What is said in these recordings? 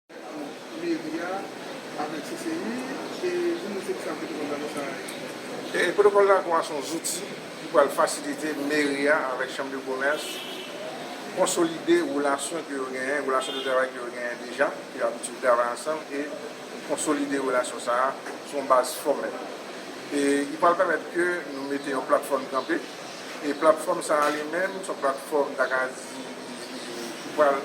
Ant meri a avèk CCI e nou menm se ki sa pwotokòl dakò sa a ye? Pwotokòl dakò a se yon zouti ki pral fasilite meri a avèk chanm de komès konsolide relasyon ke yo genyen, relasyon de travay ke yo genyen deja, ke yo abitye travay ansanm e konsolide relasyon sa a sou yon baz fòmèl. E li pral pèmèt ke nou mete yon platfòm kanpe e platfòm sa a li menm se yon platfòm ta ka di ki pral.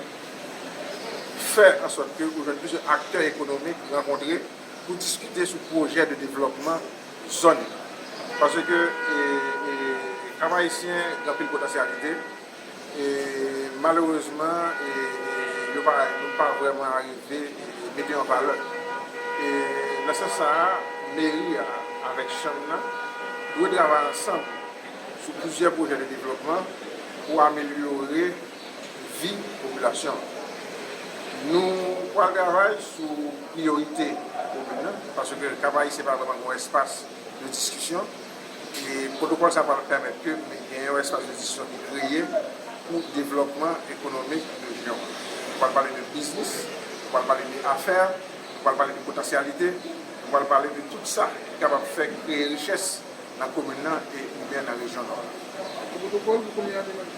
fè ansòt ke ou jwenn plizyè aktè ekonomik rankontre pou diskite sou pwojè de devlòpman zòn nan. Paske Kap Ayisyen gen anpil potansyalite e malerezman yo pa nou pa vrèman arive mete an valè. E nan sans sa a, meri a avèk chanm nan dwe travay ansanm sou plizyè pwojè de devlòpman pou amelyore vi popilasyon an. Nou pral travay sou priyorite komin nan, paske Kap Ayisyen pa vreman gen yon espas de diskisyon, e pwotokòl sa pral pèmèt ke gen yon espas de diskisyon ki kreye pou devlòpman ekonomik rejyon an. Nou pral pale de biznis, nou pral pale de afè, nou pral pale de potansyalite, nou pral pale de tout sa ki kapab fè kreye richès nan komin nan e oubyen nan rejyon Nò a. Pwotokòl pou komin an li menm?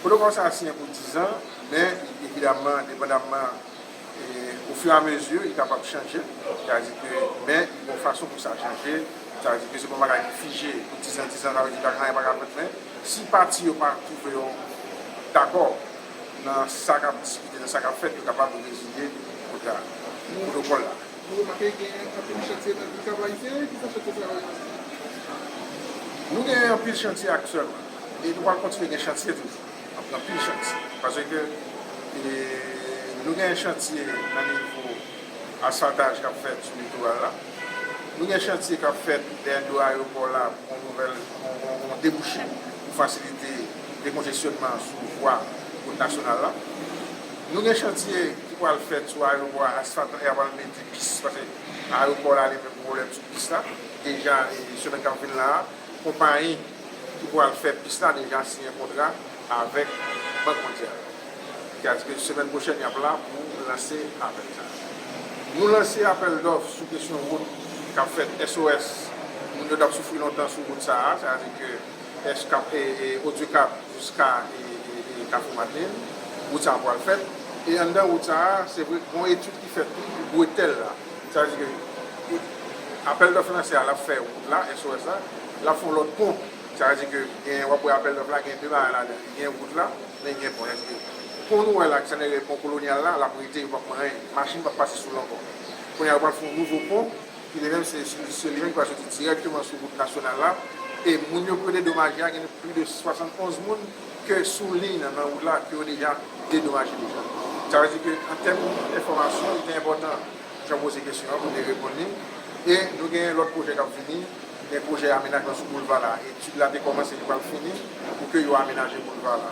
Pwotokòl sa a siyen pou dizan, men evidaman depandamman ofiramezi li kapab chanje, sètadike men li gen yon fason pou sa chanje, sètadike se pa yon bagay ki fije pou dizan, dizan sa vle di anyen pa ka fèt men si pati yo pa twouve yo dakò nan sa k ap diskite, nan sa k ap fèt yo kapab reziye kontra a, pwotokòl la. Nou remake gen anpil chantye nan peyi sa, pa ayisyen ki fè chantye sa yo yo siyen? Nou gen anpil chantye aktyèlman. E nou pral kontinye gen chantye toujou. N ap pran pil chantye. Paske nou gen chantye nan nivo asantaj k ap fèt sou litoral la. Nou gen chantye k ap fèt dèyè do ayewopò la pou yon nouvèl, yon debouche pou fasilite dekonjesyonman sou vwa wout nasyonal la. Nou gen chantye ki pral fèt sou ayewopò a asantan e y a pral mete pis. Paske ayewopò la li menm gen pwoblèm sou pis la. Deja semenn k ap vin la a, konpayi. ki pral fè pis la deja siyen kontra avèk Bank Mondyal. Li ka di ke semèn pwochèn y ap la pou lanse apèl sa a. Nou lanse apèl dòf sou kesyon wout k ap fèt SOS. Moun yo t ap soufri lontan sou wout sa a, sètadi ke Eskap, Odyokap jiska Kafou Madelin. Wout sa a pral fèt. E anndan wout sa a, se vre gen yon etid ki fèt tou pou bretèl la. Sètadi ke apèl dòf lanse a, l ap fè wout la, SOS la. L ap fè yon lòt pon. Sa vle di ke gen, w ap wè apèl dòf la gen 2 bagay ladan l. Li gen wout la, men li gen pon. Sètadi ke pon nou wè la, ke sa nou rele pon kolonyal la, l ap rete, yo p ap pran anyen. Machin p ap pase sou l ankò. Kounye a, yo pral fè yon nouvo pon, ki li menm se se li menm ki pral soti dirèkteman sou wout nasyonal la. E moun yo pou yo dedomaje a, gen plis de 71 moun ke sou liy nan, nan wout la, ke yo deja dedomaje deja. Sa vle di ke an tèm enfòmasyon, li te enpòtan. Jan w poze kesyon an, mwen te reponn li. E nou gen lòt pwojè k ap vini. Gen pwojè amenajman sou boulva la. Etid la te kòmanse, li pral fini pou ke yo amenaje boulva la.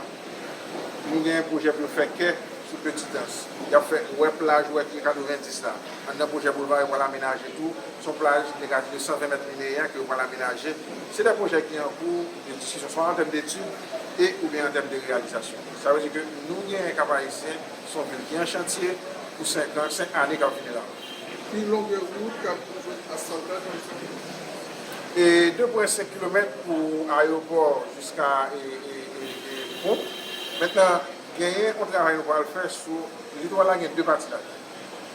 Nou gen pwojè pou yo fè kè sou Petidans. Y ap fè wè plaj wè pye 90 la. Anndan pwojè boulva a, yo pral amenaje tou. Se yon plaj ki te ka dire 120 mèt lineè ke yo pral amenaje. Se de pwojè ki an kou de diskisyon swa an tèm detid e oubyen an tèm de reyalizasyon. Sa vle di ke nou gen Kap-Ayisyen. S on vil ki an chantye pou 5 an, 5 ane k ap vini la. Pi longue route k ap pou jwenn asfaltay nan Etazini. E 2 pwen 5 kilomèt pou ayewopò jiska pon. Mentnan genyen on travay nou pral fè sou litwal la gen 2 pati la dan.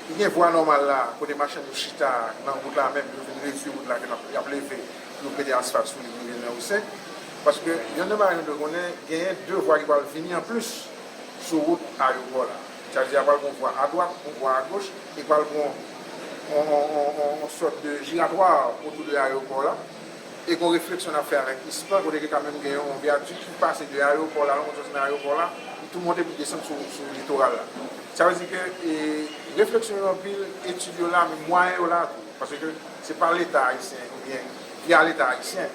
Li gen vwa nòmal la kote machann yo chita nan wout la menm yo vin redui wout la ke y ap leve pou yo mete asfalt sou li pou rive nan Rue 5. Paske yon nan bagay nou dwe konnen genyen 2 vwa ki pral vini an plis. Sou wout ayopò la. Tchaje a pral gon vwa adwat, yon vwa agoch, e pral gon yon sòt de jiratwa otou de ayopò la. E gon refleksyon nap fè avèk ispan, kote ke ka menm gen yon vyadik ki pase de ayopò la, longon sòs nan ayopò la, pou tou monte pou desann sou litoral la. Sa vle di ke refleksyon yo anpil, etid yo la, men mwayen yo la tou. Pase ke se pa leta ayisyen, ou byen via leta ayisyen,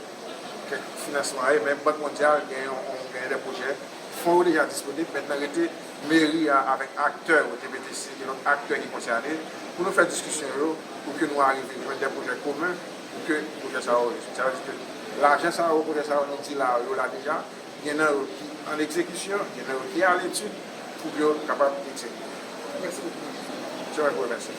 ke finansman an ye, men bank mondyal gen yon, gen de pwojè. Fon yo deja disponib, mentnan rete meri a avèk aktè yo te mete si gen lòt aktè ki konsène pou nou fè diskisyon yo pou ke nou arive jwenn de pwojè komen pou ke pwojè sa yo rezoud. Sa vle di ke lajan sa yo, pwojè sa yo nou di la a yo la deja, gen nan yo ki an egzekisyon, gen nan yo ki a letid pou ke yo kapab egzekite. Mèsi bokou. Se mwen ki remèsi.